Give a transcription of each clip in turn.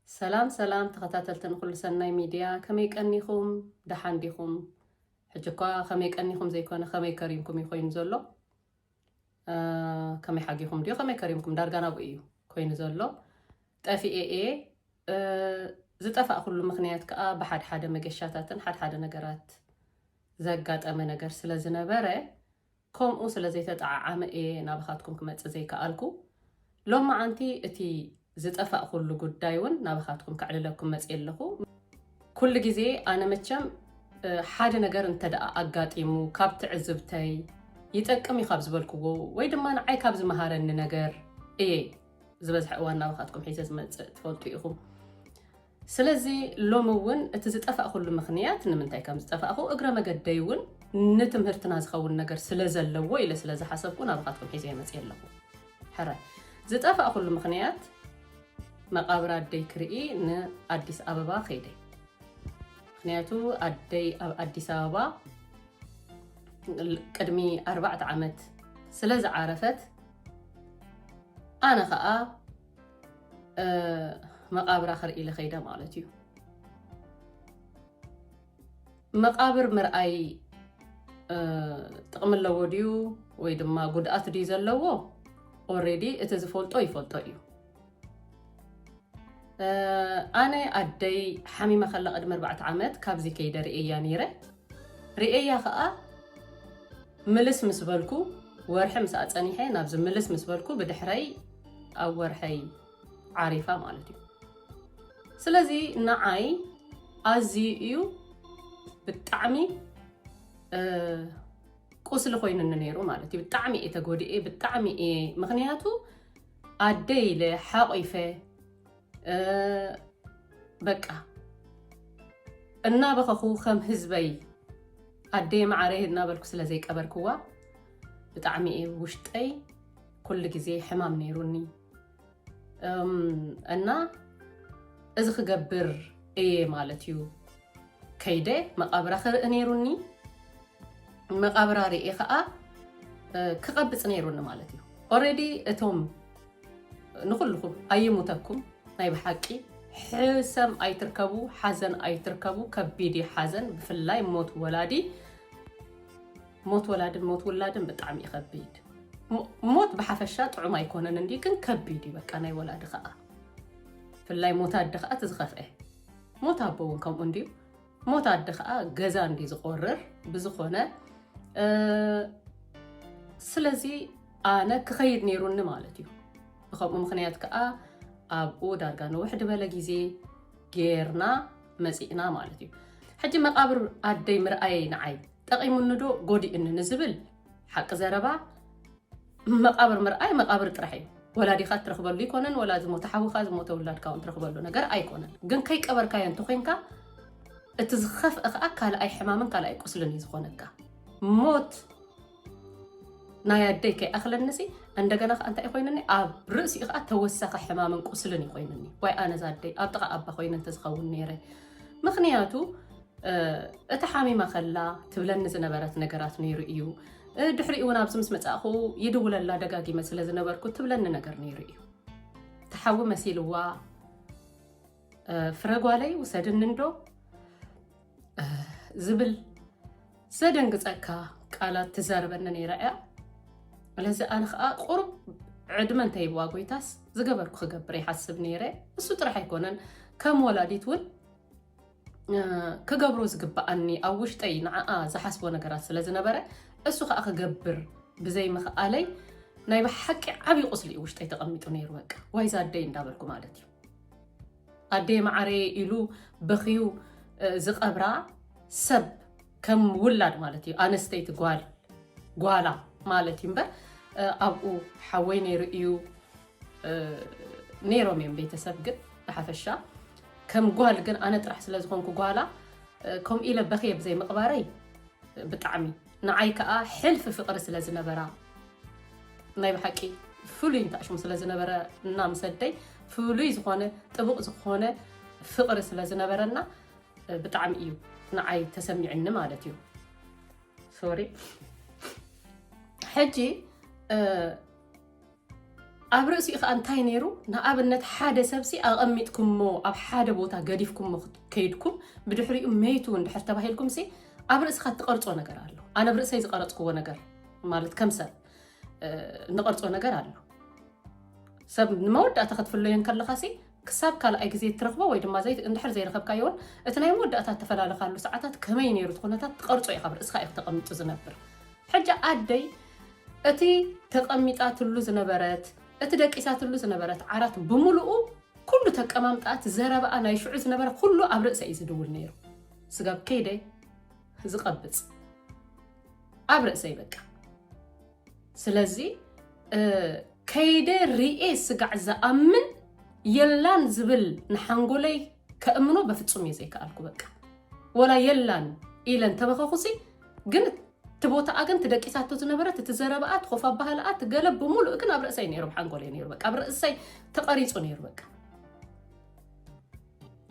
ሰላም ሰላም ተኸታተልቲ ንኹሉ ሰናይ ሚድያ ከመይ ቀኒኹም ደሓን ዲኹም ሕጂ እኳ ከመይ ቀኒኹም ዘይኮነ ከመይ ከሪምኩም እዩ ኮይኑ ዘሎ ከመይ ሓጊኹም ድዩ ከመይ ከሪምኩም ዳርጋ ናብኡ እዩ ኮይኑ ዘሎ ጠፊኤ እየ ዝጠፋእኩሉ ምክንያት ከዓ ብሓድ ሓደ መገሻታትን ሓድ ሓደ ነገራት ዘጋጠመ ነገር ስለ ዝነበረ ከምኡ ስለ ዘይተጠዓዓመ እየ ናባኻትኩም ክመፅእ ዘይከኣልኩ ሎማዓንቲ እቲ ዝጠፋእኹሉ ጉዳይ ውን ናባኻትኩም ከዕልለኩም መፅየ ኣለኹ። ኩሉ ግዜ ኣነ መቸም ሓደ ነገር እንተደኣ ኣጋጢሙ ካብ ትዕዝብተይ ይጠቅም እዩ ካብ ዝበልክዎ ወይ ድማ ንዓይ ካብ ዝመሃረኒ ነገር እየ ዝበዝሐ እዋን ናባኻትኩም ሒዘ ዝመፅእ ትፈልጡ ኢኹም። ስለዚ ሎሚ እውን እቲ ዝጠፋእኹሉ ምኽንያት ንምንታይ ከም ዝጠፋእኹ እግረ መገደይ እውን ንትምህርትና ዝኸውን ነገር ስለ ዘለዎ ኢለ ስለ ዝሓሰብኩ ናባኻትኩም ሒዘ መፅየ ኣለኹ ሕረ ዝጠፋእኹሉ ምኽንያት መቃብር ኣደይ ክርኢ ንኣዲስ ኣበባ ከይደይ ምክንያቱ ኣደይ ኣብ ኣዲስ ኣበባ ቅድሚ ኣርባዕተ ዓመት ስለ ዝዓረፈት ኣነ ከዓ መቓብራ ክርኢ ልኸይደ ማለት እዩ መቃብር ምርኣይ ጥቕሚ ኣለዎ ድዩ ወይ ድማ ጉድኣት ድዩ ዘለዎ ኦሬዲ እቲ ዝፈልጦ ይፈልጦ እዩ ኣነ ኣደይ ሓሚማ ከላ ቅድሚ ኣርባዕተ ዓመት ካብዚ ከይደ ርእያ ነይረ ርእያ ከዓ ምልስ ምስ በልኩ ወርሒ ምስ ኣፀኒሐ ናብዚ ምልስ ምስ በልኩ ብድሕረይ ኣብ ወርሐይ ዓሪፋ ማለት እዩ ስለዚ ንዓይ ኣዝዩ እዩ ብጣዕሚ ቁስሊ ኮይኑኒ ነይሩ ማለት እዩ ብጣዕሚ እየ ተጎድኤ ብጣዕሚ እየ ምክንያቱ ኣደ ኢለ ሓቂፈ በቃ እናበኸኹ ከም ህዝበይ ኣደይ ማዕረይ እናበልኩ ስለዘይቀበርክዋ ብጣዕሚ እዩ ውሽጠይ ኩሉ ግዜ ሕማም ነይሩኒ እና እዚ ክገብር እየ ማለት እዩ ከይደ መቃብራ ክርኢ ነይሩኒ መቃብራ ርኤ ከዓ ክቐብፅ ነይሩኒ ማለት እዩ ኦረዲ እቶም ንኩልኩም ኣይሙተኩም ናይ ብሓቂ ሕሰም ኣይትርከቡ ሓዘን ኣይትርከቡ ከቢድ ሓዘን ብፍላይ ሞት ወላዲ ሞት ወላድን ሞት ውላድን ብጣዕሚ እዩ ከቢድ ሞ- ሞት ብሓፈሻ ጥዑም ኣይኮነን እንዲ ግን ከቢድ እዩ በቃ ናይ ወላዲ ከዓ ብፍላይ ሞት ኣደ ከዓ እቲ ዝኸፍአ ሞት ኣቦ እውን ከምኡ እንዲዩ ሞት ኣደ ከዓ ገዛ እንዲ ዝቆርር ብዝኾነ እ፣ ስለዚ ኣነ ክኸይድ ነይሩኒ ማለት እዩ ብከምኡ ምክንያት ከዓ ኣብኡ ዳርጋ ንውሕ ድበለ ግዜ ጌርና መፂእና ማለት እዩ ሕጂ መቃብር ኣደይ ምርኣየይ ንዓይ ጠቒሙኒዶ ጎዲኡኒ ንዝብል ሓቂ ዘረባ መቓብር ምርኣይ መቓብር ጥራሕ እዩ። ወላዲኻ እትረኽበሉ ኣይኮነን፣ ወላ ዝሞተ ሓውኻ ዝሞተ ውላድካ እውን ትረኽበሉ ነገር ኣይኮነን። ግን ከይቀበርካዮ እንተኮይንካ እቲ ዝኸፍአ ከዓ ካልኣይ ሕማምን ካልኣይ ቁስልን እዩ ዝኾነካ። ሞት ናይ ኣደይ ከይኣኽለኒሲ እንደገና ከዓ እንታይ ኮይንኒ ኣብ ርእሲኡ ከዓ ተወሳኺ ሕማምን ቁስልን እዩ ኮይንኒ። ዋይ ኣነዛ ኣደይ ኣብ ጥቓ ኣባ ኮይነ እንተዝኸውን ነይረ ምክንያቱ እታ ሓሚማ ከላ ትብለኒ ዝነበረት ነገራት ነይሩ እዩ። ድሕሪኡ እውን ኣብዚ ምስ መጻእኹ ይድውለላ ደጋጊመ ስለ ዝነበርኩ ትብለኒ ነገር ነይሩ እዩ። ተሓዊ መሲልዋ ፍረጓለይ ውሰድኒ እንዶ ዝብል ዘደንግፀካ ቃላት ትዛርበኒ ነይራ እያ ስለዚ ኣነ ከዓ ቁሩብ ዕድመ እንተይብዋ ጎይታስ ዝገበርኩ ክገብር ይሓስብ ነይረ እሱ ጥራሕ ኣይኮነን ከም ወላዲት እውን ክገብሮ ዝግብኣኒ ኣብ ውሽጠይ ንዓኣ ዝሓስቦ ነገራት ስለ ዝነበረ እሱ ከዓ ክገብር ብዘይ ምኽኣለይ ናይ ብሓቂ ዓብዪ ቁስሊ እዩ ውሽጠይ ተቐሚጡ ነይሩ በቃ ዋይዛ ኣደይ እንዳበልኩ ማለት እዩ ኣደይ ማዓረየ ኢሉ በኽዩ ዝቐብራ ሰብ ከም ውላድ ማለት እዩ ኣነስተይቲ ጓል ጓላ ማለት እዩ እምበር ኣብኡ ሓወይ ነይሩ እዩ ነይሮም እዮም ቤተሰብ ግን ብሓፈሻ ከም ጓል ግን ኣነ ጥራሕ ስለ ዝኾንኩ ጓላ ከምኡ ኢለ በኽየ ብዘይ ምቕባረይ ብጣዕሚ ንዓይ ከዓ ሕልፊ ፍቕሪ ስለ ዝነበራ ናይ ብሓቂ ፍሉይ እንተኣሽሙ ስለ ዝነበረ እና ምሰደይ ፍሉይ ዝኾነ ጥቡቕ ዝኾነ ፍቕሪ ስለ ዝነበረና ብጣዕሚ እዩ ንዓይ ተሰሚዕኒ ማለት እዩ ሶሪ ሕጂ ኣብ ርእሲኡ ከዓ እንታይ ነይሩ ንኣብነት ሓደ ሰብሲ ኣቐሚጥኩምሞ ኣብ ሓደ ቦታ ገዲፍኩሞ ከይድኩም ብድሕሪኡ መይቱ እንድሕር ተባሂልኩም ሲ ኣብ ርእስኻ እትቐርፆ ነገር ኣሎ ኣነ ብ ርእሰይ ዝቐረፅክዎ ነገር ማለት ከም ሰብ ንቐርፆ ነገር ኣሎ ሰብ ንመወዳእታ ክትፍለዮ ከለኻ ሲ ክሳብ ካልኣይ ግዜ እትረኽቦ ወይ ድማ ዘይ እንድሕር ዘይረኸብካዮ ውን እቲ ናይ መወዳእታ እተፈላለኻሉ ሰዓታት ከመይ ነይሩ እቲ ኩነታት ትቐርጾ ኢኻ ብ ርእስኻ ኢዩ ተቐሚጡ ዝነብር ሕጂ ኣደይ እቲ ተቐሚጣትሉ ዝነበረት እቲ ደቂሳትሉ ዝነበረት ዓራት ብምሉኡ ኩሉ ተቀማምጣኣ እቲ ዘረባኣ ናይ ሽዑ ዝነበረ ኩሉ ኣብ ርእሰ ኢዩ ዝድውል ነይሩ ስጋብ ከይደ ዝቐብጽ ኣብ ርእሰይ በቃ ስለዚ ከይደ ሪኤ ስጋዕ ዝኣምን የላን ዝብል ንሓንጎለይ ከእምኖ በፍፁም እየ ዘይከኣልኩ በቃ ወላ የላን ኢለን ተበኸኹሲ ግን እቲ ቦታኣ ግን ትደቂሳቶ ዝነበረት እቲ ዘረባኣ ትኾፍ ኣባህላኣ ትገለ ብምሉእ ግን ኣብ ርእሰይ ነይሩ ብሓንጎለይ ነይሩ በቃ ኣብ ርእሰይ ተቐሪፁ ነይሩ በቃ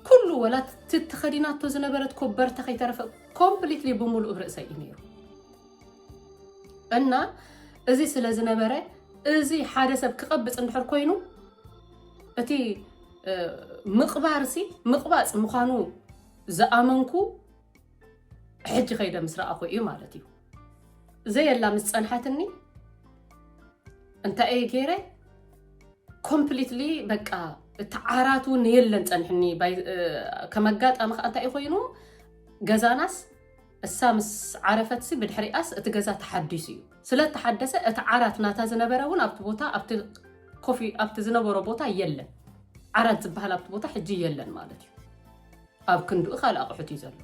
ኩሉ ወላ ትትኸዲናቶ ዝነበረት ኮበርታ ከይተረፈ ኮምፕሊትሊ ብምሉእ ርእሰይ እዩ ነይሩ እና እዚ ስለ ዝነበረ እዚ ሓደ ሰብ ክቐብፅ እንድሕር ኮይኑ እቲ ምቕባርሲ ምቕባፅ ምዃኑ ዝኣመንኩ ሕጂ ከይደ ምስ ረኣኹ እዩ ማለት እዩ ዘየላ ምስ ፀንሓትኒ እንታይ እየ ገይረ ኮምፕሊትሊ በቃ እቲ ዓራት እውን የለን ፀንሕኒ ከም ኣጋጣሚ ከዓ እንታይ እዩ ኮይኑ ገዛናስ እሳ ምስ ዓረፈትሲ ብድሕሪኣስ እቲ ገዛ ተሓዲሱ እዩ ስለ ተሓደሰ እቲ ዓራት ናታ ዝነበረ እውን ኣብቲ ቦታ ኣብቲ ኮፊ ኣብቲ ዝነበሮ ቦታ የለን ዓራት ዝበሃል ኣብቲ ቦታ ሕጂ የለን ማለት እዩ ኣብ ክንድኡ ካልእ ኣቑሑት እዩ ዘሎ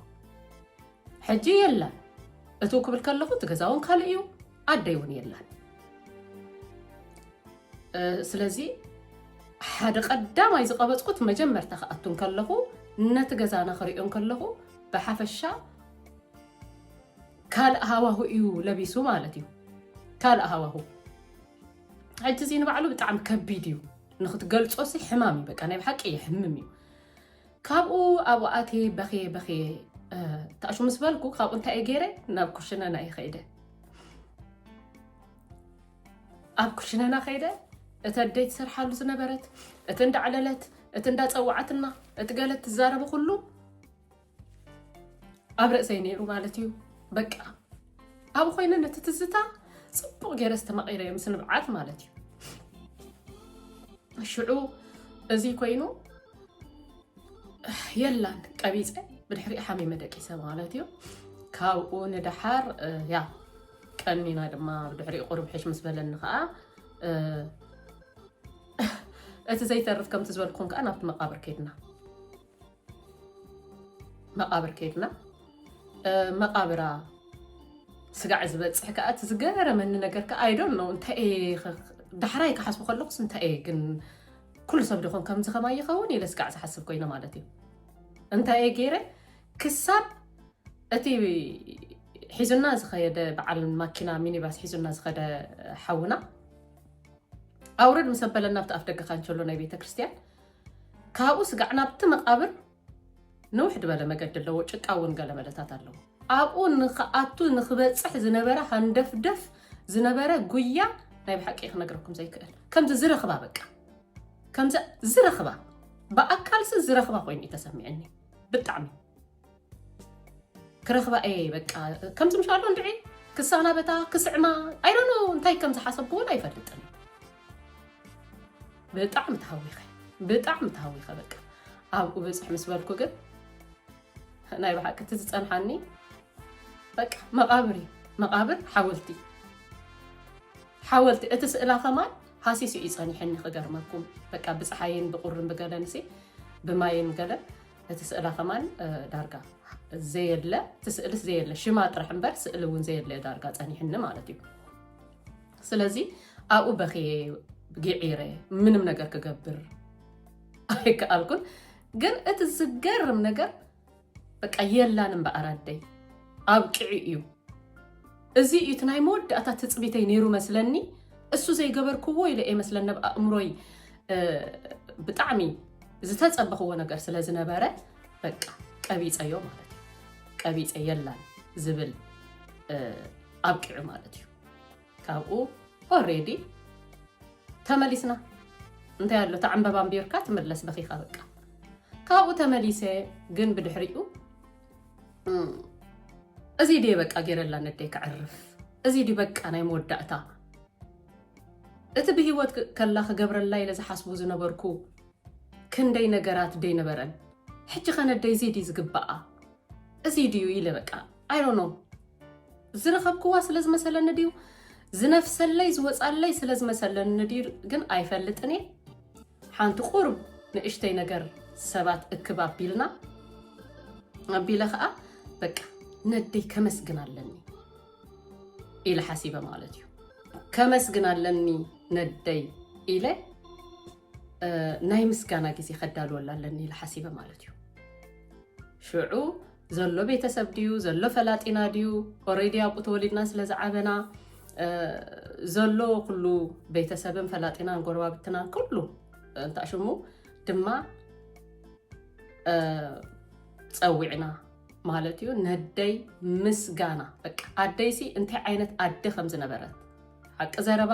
ሕጂ የላን እትው ክብል ከለኹ እቲ ገዛውን ካልእ እዩ ኣደይ እውን የላን ስለዚ ሓደ ቀዳማይ ዝቐበፅኩት መጀመርታ ክኣቱ ከለኹ ነቲ ገዛና ክሪኦ ከለኹ ብሓፈሻ ካልእ ሃዋሁ እዩ ለቢሱ ማለት እዩ ካልእ ሃዋሁ ሕጂ እዚ ንባዕሉ ብጣዕሚ ከቢድ እዩ ንክትገልፆ ሲ ሕማም እዩ በቃ ናይ ብሓቂ የሕምም እዩ ካብኡ ኣብኡ ኣትየ በኽየ በኽየ ታእሹ ምስ በልኩ ካብኡ እንታይ እየ ገይረ ናብ ኩሽነና እየ ከይደ ኣብ ኩሽነና ከይደ እቲ ኣደይ ትሰርሓሉ ዝነበረት እቲ እንዳዕለለት እቲ እንዳፀዋዓትና እቲ ገለ ትዛረቡ ኩሉ ኣብ ርእሰይ ነይሩ ማለት እዩ በቃ ኣብ ኮይነ ነቲ ትዝታ ፅቡቕ ገይረ ዝተማቒረ እዮም ስንብዓት ማለት እዩ ሽዑ እዚ ኮይኑ የላን ቀቢፀ ብድሕሪኡ ሓሚመ ደቂሰ ማለት እዩ ካብኡ ንደሓር ያ ቀኒና ድማ ብድሕሪኡ ቁርብ ሕሽ ምስ በለኒ ከዓ እቲ ዘይተርፍ ከምቲ ዝበልኩም ከዓ ናብቲ መቃብር ከድና መቃብር ከድና መቃብራ ስጋዕ ዝበፅሕ ከዓ እቲ ዝገረመኒ ነገር ከዓ ኣይዶን እንታይ ዳሕራይ ክሓስቡ ከለኩስ እንታይ እየ ግን ኩሉ ሰብ ድኾን ከምዚ ከማይ ይኸውን ኢለ ስጋዕ ዝሓስብ ኮይነ ማለት እዩ እንታይ እየ ገይረ ክሳብ እቲ ሒዙና ዝኸየደ በዓል ማኪና ሚኒባስ ሒዙና ዝኸደ ሓውና ኣውረድ ምስ ኣበለና ኣብቲ ኣፍ ደገ ካንቸሎ ናይ ቤተ ክርስትያን ካብኡ ስጋዕ ናብቲ መቃብር ንውሕ ድበለ መገዲ ኣለዎ ጭቃ ውን ገለ መለታት ኣለዎ። ኣብኡ ንክኣቱ ንክበጽሕ ዝነበረ ሃንደፍደፍ ዝነበረ ጉያ ናይ ብሓቂ እየ ክነግረኩም ዘይክእል ከምዚ ዝረክባ በቃ ከምዚ ዝረክባ ብኣካልሲ ዝረክባ ኮይኑ እዩ ተሰሚዕኒ ብጣዕሚ ክረክባ እየ በቃ ከምዚ ምሻሎ እንድዒ ክሳናበታ ክስዕማ ኣይዶኖ እንታይ ከም ዝሓሰብኩ እውን ኣይፈልጥን ብጣዕሚ ተሃዊኸ ብጣዕሚ ተሃዊኸ በቃ ኣብኡ ብፅሕ ምስ በልኩ ግን ናይ ብሓቂ እቲ ዝፀንሓኒ በቃ መቓብር እዩ መቓብር ሓወልቲ ሓወልቲ እቲ ስእላ ከማን ሃሲሱ እዩ ፀኒሐኒ ክገርመኩም በቃ ብፀሓይን ብቁርን ብገለን ሲ ብማይን ገለን እቲ ስእላ ከማን ዳርጋ ዘየለ እቲ ስእልስ ዘየለ ሽማ ጥራሕ እምበር ስእሊ እውን ዘየለ ዳርጋ ፀኒሕኒ ማለት እዩ ስለዚ ኣብኡ በኽየ ግዒረ ምንም ነገር ክገብር ኣይከኣልኩን። ግን እቲ ዝገርም ነገር በቃ የላን እምበኣር ኣደይ ኣብቅዒ እዩ። እዚ እዩ እቲ ናይ መወዳእታ ትፅቢተይ ነይሩ መስለኒ። እሱ ዘይገበርክዎ ኢለ እየ መስለኒ ኣብ ኣእምሮይ ብጣዕሚ ዝተፀበኽዎ ነገር ስለ ዝነበረ በቃ ቀቢፀዮ ማለት እዩ ቀቢፀ የላን ዝብል ኣብቂዑ ማለት እዩ ካብኡ ኦሬዲ ተመሊስና እንታይ ኣሎ እታ ዕምበባ ኣንቢርካ ትምለስ በኺኻ በቃ ካብኡ ተመሊሰ ግን ብድሕሪኡ እዚ ድየ በቃ ገይረላ ነደይ ክዕርፍ እዚ ድዩ በቃ ናይ መወዳእታ እቲ ብሂወት ከላ ክገብረላ ኢለ ዝሓስቡ ዝነበርኩ ክንደይ ነገራት ደይነበረን ሕጂ ከነደይ እዚ ድዩ ዝግባኣ እዚ ድዩ ኢለ በቃ ኣይሮኖ ዝረኸብክዋ ስለ ዝመሰለኒ ድዩ ዝነፍሰለይ ዝወፃለይ ስለ ዝመሰለኒ ድዩ ግን ኣይፈልጥን እየ ሓንቲ ቁርብ ንእሽተይ ነገር ሰባት እክብ ኣቢልና ኣቢለ ከዓ በቃ ነደይ ከመስግን ኣለኒ ኢለ ሓሲበ ማለት እዩ ከመስግን ኣለኒ ነደይ ኢለ ናይ ምስጋና ግዜ ከዳልወላ ኣለኒ ኢለ ሓሲበ ማለት እዩ ሽዑ ዘሎ ቤተሰብ ድዩ ዘሎ ፈላጢና ድዩ ኦረይዲ ኣብኡ ተወሊድና ስለ ዝዓበና ዘሎ ኩሉ ቤተሰብን ፈላጢናን ጎረባብትናን ኩሉ እንታይ ሽሙ ድማ ፀዊዕና ማለት እዩ ነደይ ምስጋና በቃ ኣደይሲ እንታይ ዓይነት ኣደ ከም ዝነበረት ሓቂ ዘረባ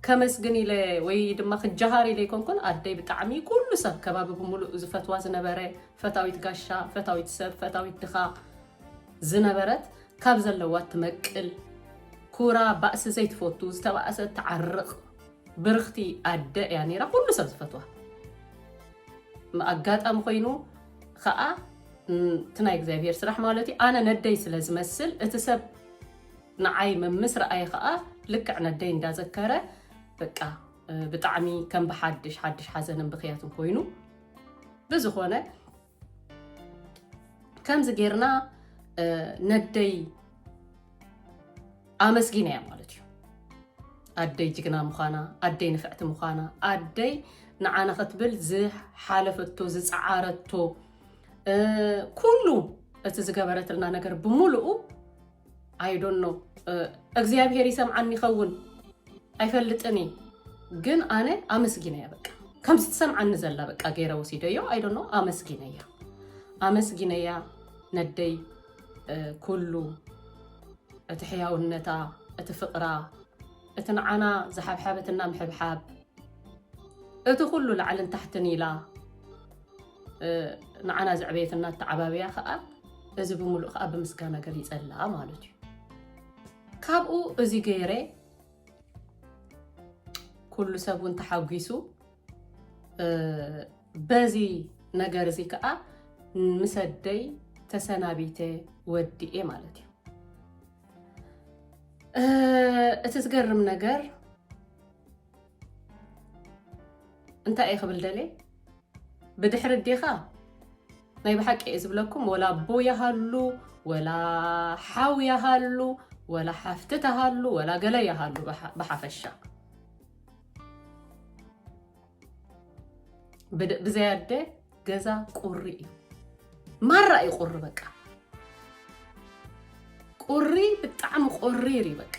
ከመስግን ኢለ ወይ ድማ ክጀሃር ኢለ ኣይኮንኩን ኣደይ ብጣዕሚ ኩሉ ሰብ ከባቢ ብምሉእ ዝፈትዋ ዝነበረ ፈታዊት ጋሻ ፈታዊት ሰብ ፈታዊት ድኻ ዝነበረት ካብ ዘለዋ ትመቅል ኩራ ባእሲ ዘይትፈቱ ዝተባእሰ ትዓርቕ ብርኽቲ ኣደ እያ ነይራ ኩሉ ሰብ ዝፈትዋ ኣጋጣሚ ኮይኑ ከዓ እቲ ናይ እግዚኣብሄር ስራሕ ማለት እዩ ኣነ ነደይ ስለ ዝመስል እቲ ሰብ ንዓይ መምስ ረኣየ ከኣ ልክዕ ነደይ እንዳ ዘከረ በቃ ብጣዕሚ ከም ብሓድሽ ሓድሽ ሓዘንን ብክያትን ኮይኑ ብዝኾነ ከምዚ ጌርና ነደይ ኣመስጊነ እያ ማለት እዩ ኣደይ ጅግና ምዃና ኣደይ ንፍዕቲ ምዃና ኣደይ ንዓና ክትብል ዝሓለፈቶ ዝፀዓረቶ ኩሉ እቲ ዝገበረትልና ነገር ብምሉኡ ኣይዶኖ እግዚኣብሄር ይሰምዓኒ ይኸውን ኣይፈልጥን እዩ ግን ኣነ ኣመስጊነያ በቃ ከምዚ ትሰምዓኒ ዘላ በቃ ገይረ ወሲደዮ ኣይዶኖ ኣመስጊነያ ኣመስጊነያ ነደይ ኩሉ እቲ ሕያውነታ እቲ ፍቕራ እቲ ንዓና ዝሓብሓበትና ምሕብሓብ እቲ ኩሉ ላዕልን ታሕትን ኢላ ንዓና ዘዕበየትና ኣተዓባብያ ከዓ እዚ ብምሉእ ከዓ ብምስጋና ገሊፀላ ማለት እዩ ካብኡ እዚ ገይረ ኩሉ ሰብ እውን ተሓጒሱ በዚ ነገር እዚ ከዓ ምሰደይ ተሰናቢተ ወዲኤ ማለት እዩ እቲ ዝገርም ነገር እንታይ እየ ክብል ደልየ ብድሕሪ ዲኻ ናይ ብሓቂ እየ ዝብለኩም ወላ ኣቦ ይሃሉ ወላ ሓው ይሃሉ ወላ ሓፍቲ ተሃሉ ወላ ገለ ይሃሉ ብሓፈሻ ብዘይ ኣደ ገዛ ቁሪ እዩ ማራ እዩ ቁሪ በቃ ቁሪ ብጣዕሚ ቆሪር እዩ በቃ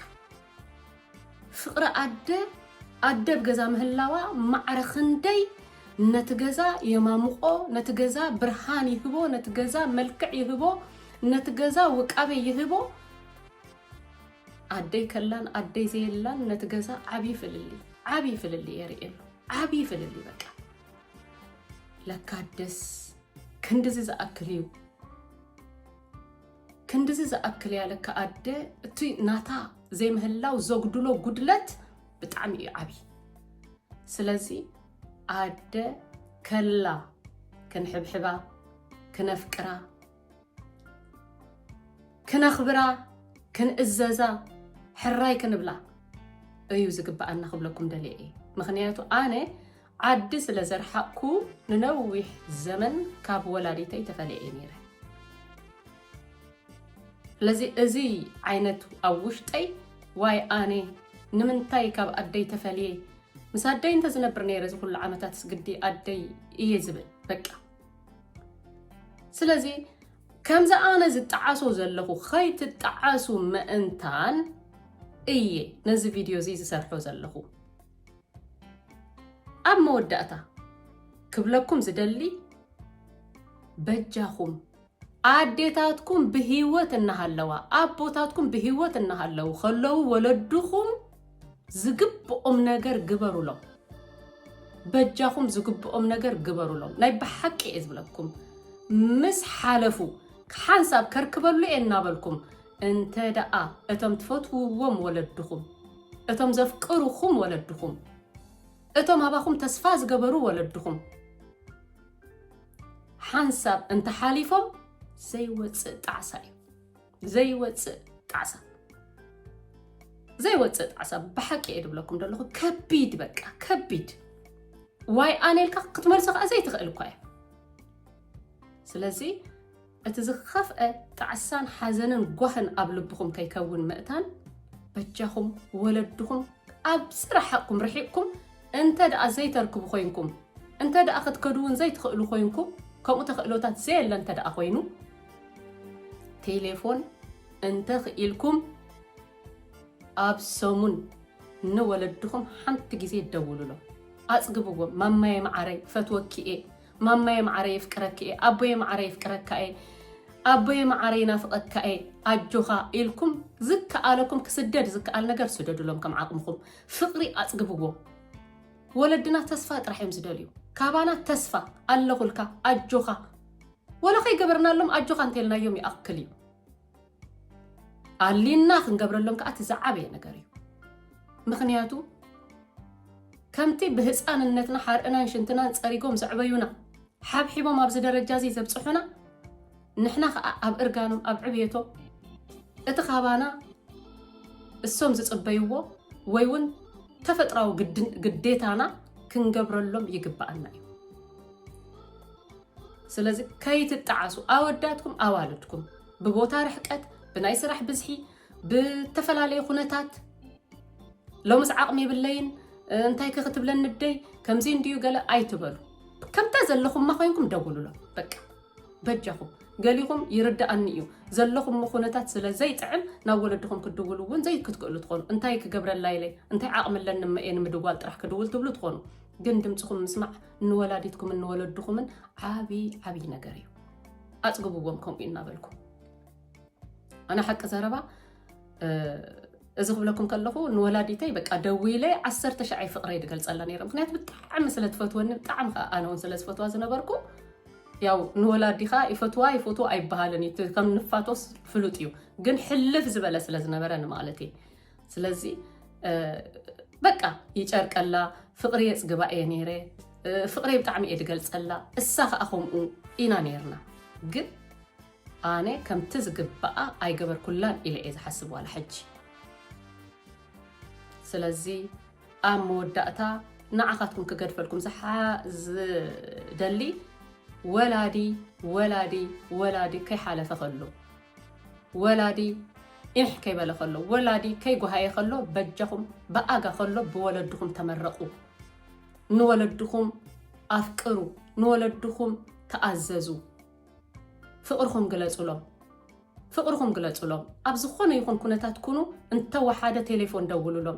ፍቅሪ ኣደ ኣደ ኣብ ገዛ ምህላዋ ማዕረ ክንደይ ነቲ ገዛ የማምቆ ነቲ ገዛ ብርሃን ይህቦ ነቲ ገዛ መልክዕ ይህቦ ነቲ ገዛ ውቃበ ይህቦ ኣደይ ከላን ኣደይ ዘየላን ነቲ ገዛ ዓብዪ ፍልልይ ዓብዪ ፍልልይ የርእየሉ ዓብዪ ፍልልይ በቃ ለካደስ ክንድዚ ዝኣክል እዩ ክንድዚ ዝኣክል እያ ለካ ኣደ እቲ ናታ ዘይምህላው ዘጉድሎ ጉድለት ብጣዕሚ እዩ ዓብዪ ስለዚ ኣደ ከላ ክንሕብሕባ ክነፍቅራ ክነኽብራ ክንእዘዛ ሕራይ ክንብላ እዩ ዝግብኣና ክብለኩም ደልየ እየ ምክንያቱ ኣነ ዓዲ ስለ ዘርሓቕኩ ንነዊሕ ዘመን ካብ ወላዲተይ ተፈልየ'የ ነይረ። ስለዚ እዚ ዓይነት ኣብ ውሽጠይ ዋይ ኣነ ንምንታይ ካብ ኣደይ ተፈልየ ምስ ኣደይ እንተ ዝነብር ነይረ እዚ ኩሉ ዓመታትስ ግዲ ኣደይ እየ ዝብል በቃ ስለዚ ከምዚ ኣነ ዝጠዓሶ ዘለኹ ከይትጠዓሱ መእንታን እየ ነዚ ቪድዮ እዚ ዝሰርሖ ዘለኹ ኣብ መወዳእታ ክብለኩም ዝደሊ በጃኹም ኣዴታትኩም ብሂወት እናሃለዋ ኣቦታትኩም ብሂወት እናሃለዉ ከለዉ ወለድኹም ዝግብኦም ነገር ግበሩሎም በጃኹም ዝግብኦም ነገር ግበሩሎም ናይ ብሓቂ እየ ዝብለኩም ምስ ሓለፉ ሓንሳብ ከርክበሉ እየ እናበልኩም እንተ ደኣ እቶም ትፈትውዎም ወለድኹም፣ እቶም ዘፍቅሩኹም ወለድኹም፣ እቶም ኣባኹም ተስፋ ዝገበሩ ወለድኹም፣ ሓንሳብ እንተ ሓሊፎም ዘይወጽእ ጣዕሳ እዩ። ዘይወጽእ ጣዕሳ ዘይወጽእ ጣዕሳ ብሓቂ እየ ድብለኩም ደለኹ ከቢድ በቃ ከቢድ ዋይ ኣነ ኢልካ ክትመልሶ ከዓ ዘይትኽእል እኳ እያ ስለዚ እቲ ዝኸፍኣ ጣዕሳን ሓዘንን ጓህን ኣብ ልብኹም ከይከውን ምእታን በጃኹም ወለድኹም ኣብ ዝረሓቕኩም ርሒቕኩም እንተ ደኣ ዘይተርክቡ ኮይንኩም እንተ ደኣ ክትከዱ እውን ዘይትኽእሉ ኮይንኩም ከምኡ ተኽእሎታት ዘየለ እንተ ደኣ ኮይኑ ቴሌፎን እንተ ኽኢልኩም ኣብ ሰሙን ንወለድኹም ሓንቲ ግዜ ደውሉሎም ኣጽግብዎም ማማየ መዓረይ ፈትወኪ እየ ማማየ ማዓረይ የፍቅረኪ እየ ኣቦየ ማዓረይ የፍቅረካ እየ ኣቦየ ማዓረይ ይናፍቀካ እየ ኣጆካ ኢልኩም ዝከኣለኩም ክስደድ ዝከኣል ነገር ስደዱሎም ከም ዓቅምኩም ፍቅሪ ኣፅግብዎ ወለድና ተስፋ ጥራሕ እዮም ዝደልዩ ካባና ተስፋ ኣለኩልካ ኣጆካ ወላ ከይገበርናሎም ኣጆካ እንተልናዮም ይኣክል እዩ ኣሊና ክንገብረሎም ከዓ እቲ ዝዓበየ ነገር እዩ ምክንያቱ ከምቲ ብህፃንነትና ሓርእናን ሽንትናን ፀሪጎም ዘዕበዩና ሓብሒቦም ኣብዚ ደረጃ እዚ ዘብፅሑና ንሕና ከዓ ኣብ እርጋኖም ኣብ ዕብየቶም እቲ ካባና እሶም ዝፅበይዎ ወይ እውን ተፈጥራዊ ግዴታና ክንገብረሎም ይግባኣና እዩ ስለዚ ከይትጣዓሱ ኣወዳትኩም ኣዋልድኩም ብቦታ ርሕቀት ብናይ ስራሕ ብዝሒ ብተፈላለየ ኩነታት ሎምስ ዓቕሚ የብለይን እንታይ ከክትብለኒ ደይ ከምዚ እንድዩ ገለ ኣይትበሉ ከምታ ዘለኹማ ኮይንኩም ደውሉሎ በቃ በጃኹም ገሊኹም ይርዳእኒ እዩ ዘለኹም ኩነታት ስለ ዘይጥዕም ናብ ወለድኹም ክድውሉ እውን ዘይክትክእሉ ትኾኑ እንታይ ክገብረላ ኢለ እንታይ ዓቕሚ ኣለኒ መኤ ንምድዋል ጥራሕ ክድውል ትብሉ ትኾኑ ግን ድምፅኹም ምስማዕ ንወላዲትኩምን ንወለድኹምን ዓብይ ዓብይ ነገር እዩ ኣፅግብዎም ከምኡ እናበልኩ ኣነ ሓቂ ዘረባ እዚ ክብለኩም ከለኹ ንወላዲተይ በቃ ደዊለ ዓሰርተ ሻዓይ ፍቅረይ ድገልፀላ ነረ ምክንያቱ ብጣዕሚ ስለትፈትወኒ ብጣዕሚ ከዓ ኣነ እውን ስለዝፈትዋ ዝነበርኩ ያው ንወላዲኻ ይፈትዋ ይፈትዎ ኣይበሃልን እዩ ከም ንፋቶስ ፍሉጥ እዩ ግን ሕልፍ ዝበለ ስለዝነበረ ንማለት እየ ስለዚ በቃ ይጨርቀላ ፍቅሪ የፅግባ እየ ነይረ ፍቅሪ ብጣዕሚ እየ ዝገልፀላ እሳ ከዓ ከምኡ ኢና ነይርና ግን ኣነ ከምቲ ዝግባኣ ኣይገበርኩላን ኢለ እየ ዝሓስብ ዋላ ሕጂ ስለዚ ኣብ መወዳእታ ንዓኻትኩም ክገድፈልኩም ዝደሊ ወላዲ ወላዲ ወላዲ ከይሓለፈ ከሎ ወላዲ ዒሕ ከይበለ ከሎ ወላዲ ከይጎሃየ ከሎ በጃኹም ብኣጋ ከሎ ብወለድኹም ተመረቑ ንወለድኹም ኣፍቅሩ ንወለድኹም ተኣዘዙ ፍቕርኹም ግለጹሎም ፍቕርኹም ግለጹሎም ኣብ ዝኾነ ይኹን ኩነታት ኩኑ እንተወሓደ ቴሌፎን ደውሉሎም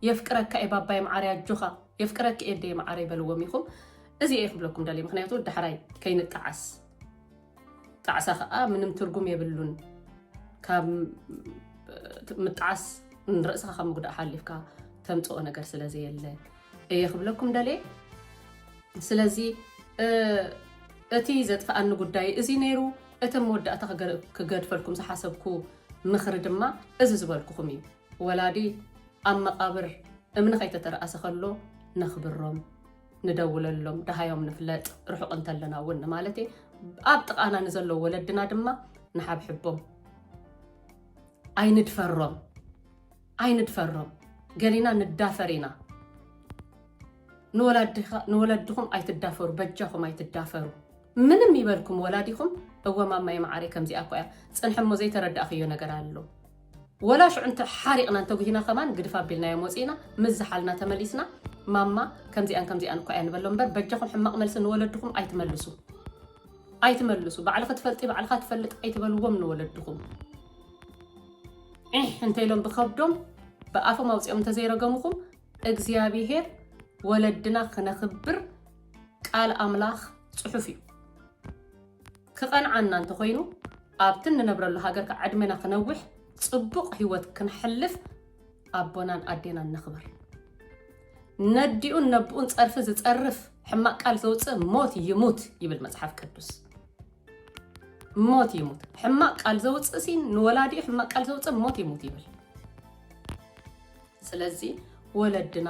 የፍቅረካ እየ ባባይ መዓርያ ጆኻ የፍቅረክ እየ ደየ መዓረይ በልዎም ኢኹም እዚ እየ ክብለኩም ደልየ ምክንያቱ ዳሕራይ ከይንጠዓስ ጣዕሳ ከኣ ምንም ትርጉም የብሉን ካብ ምጥዓስ ንርእስኻ ካብ ምጉዳእ ሓሊፍካ ተምጽኦ ነገር ስለ ዘየለ እየ ክብለኩም ደልየ ስለዚ እቲ ዘጥፍኣኒ ጉዳይ እዚ ነይሩ እቲ መወዳእታ ክገድፈልኩም ዝሓሰብኩ ምኽሪ ድማ እዚ ዝበልኩኹም እዩ ወላዲ ኣብ መቓብር እምኒ ከይተተረኣሰ ከሎ ነኽብሮም ንደውለሎም ደሃዮም ንፍለጥ ርሑቕ እንተለና እውን ማለት እየ ኣብ ጥቓና ንዘለዉ ወለድና ድማ ንሓብሕቦም ኣይንድፈሮም ኣይንድፈሮም ገሊና ንዳፈር ኢና ንወለድኹም ኣይትዳፈሩ በጃኹም ኣይትዳፈሩ ምንም ይበልኩም ወላዲኹም እወማማይ መዓረይ ከምዚኣ እኳ እያ ፅንሐሞ ዘይተረዳእክዮ ነገር ኣሎ ወላ ሽዑ እንተ ሓሪቕናን ተጉሂና ከማን ግድፍ ኣቢልናዮም ወጺእና ምስ ዝሓልና ተመሊስና ማማ ከምዚኣን ከምዚኣን እኳ እያ ንበሎም እምበር በጃኹም ሕማቕ መልሲ ንወለድኹም ኣይትመልሱ ኣይትመልሱ ባዕልኺ ትፈልጢ ባዕልኻ ትፈልጥ ኣይትበልዎም ንወለድኹም ዒሕ እንተኢሎም ብከብዶም ብኣፎም ኣውፂኦም እንተዘይረገምኹም እግዚኣብሄር ወለድና ክነኽብር ቃል ኣምላኽ ፅሑፍ እዩ ክቐንዓና እንተኾይኑ ኣብቲ እንነብረሉ ሃገርካ ዕድሜና ክነውሕ ጽቡቕ ሂወት ክንሕልፍ ኣቦናን ኣዴናን ነኽብር። ነዲኡን ነቡኡን ጸርፊ ዝጸርፍ ሕማቅ ቃል ዘውጽእ ሞት ይሙት ይብል መጽሓፍ ቅዱስ። ሞት ይሙት ሕማቅ ቃል ዘውጽእ ሲን ንወላዲኡ ሕማቅ ቃል ዘውጽእ ሞት ይሙት ይብል። ስለዚ ወለድና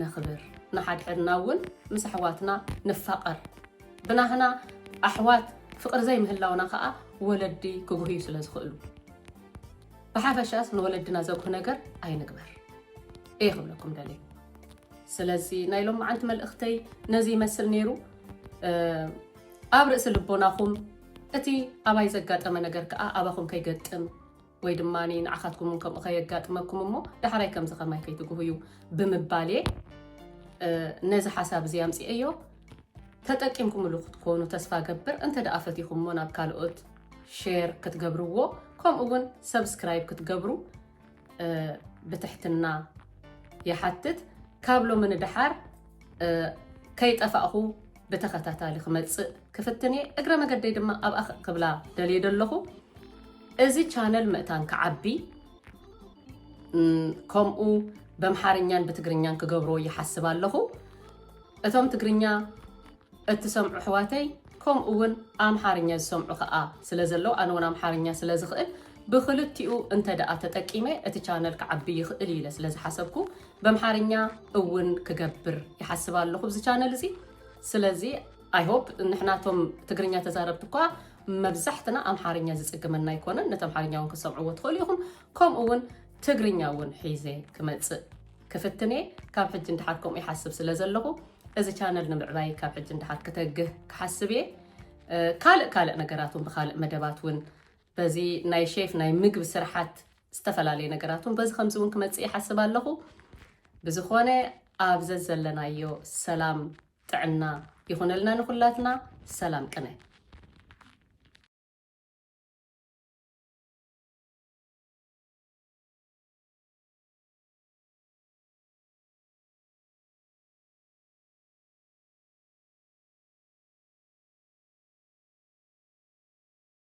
ነኽብር ንሓድሕድና እውን ምስ ኣሕዋትና ንፋቐር። ብናህና ኣሕዋት ፍቕሪ ዘይምህላውና ከኣ ወለዲ ክጉህዩ ስለ ዝኽእሉ ብሓፈሻስ ንወለድና ዘጉህ ነገር ኣይንግበር እየ ክብለኩም ደልየ። ስለዚ ናይ ሎም መዓልቲ መልእኽተይ ነዚ ይመስል ነይሩ። ኣብ ርእሲ ልቦናኹም እቲ ኣባይ ዘጋጠመ ነገር ከኣ ኣባኹም ከይገጥም ወይ ድማ ንዓኻትኩም እውን ከምኡ ከየጋጥመኩም እሞ ዳሕራይ ከምዚ ከማይ ከይትግሁ እዩ ብምባል እየ ነዚ ሓሳብ እዚ ኣምፅኤዮ ተጠቂምኩምሉ ክትኮኑ ተስፋ ገብር እንተ ደኣ ፈቲኹሞ ናብ ካልኦት ሼር ክትገብርዎ ከምኡ እውን ሰብስክራይብ ክትገብሩ ብትሕትና ይሓትት ካብ ሎሚ ንደሓር ከይጠፋእኹ ብተኸታታሊ ክመፅእ ክፍትን እየ እግረ መገደይ ድማ ኣብኣ ክብላ ደልየ ደለኹ እዚ ቻነል ምእታን ክዓቢ ከምኡ በምሓርኛን ብትግርኛን ክገብሮ ይሓስብ ኣለኹ እቶም ትግርኛ እትሰምዑ ኣሕዋተይ ከምኡ እውን ኣምሓርኛ ዝሰምዑ ከዓ ስለ ዘለው ኣነ እውን ኣምሓርኛ ስለ ዝኽእል ብክልቲኡ እንተ ደኣ ተጠቂመ እቲ ቻነል ክዓቢ ይኽእል ኢለ ስለ ዝሓሰብኩ በምሓርኛ እውን ክገብር ይሓስብ ኣለኹ ብዚ ቻነል እዚ ስለዚ ኣይሆፕ ንሕናቶም ትግርኛ ተዛረብቲ እኳ መብዛሕትና ኣምሓርኛ ዝፅግመና ኣይኮነን ነቲ ኣምሓርኛ እውን ክሰምዕዎ ትኽእሉ ኢኹም ከምኡ እውን ትግርኛ እውን ሒዘ ክመፅእ ክፍትኔ ካብ ሕጂ ንድሓር ከምኡ ይሓስብ ስለ ዘለኹ እዚ ቻነል ንምዕባይ ካብ ሕጂ ንድሓር ክተግህ ክሓስብ እየ ካልእ ካልእ ነገራት እውን ብካልእ መደባት እውን በዚ ናይ ሼፍ ናይ ምግቢ ስርሓት ዝተፈላለየ ነገራት ውን በዚ ከምዚ ውን ክመፅእ ይሓስብ ኣለኹ። ብዝኾነ ኣብ ዘዘለናዮ ሰላም ጥዕና ይኹነልና ንኹላትና። ሰላም ቅነ!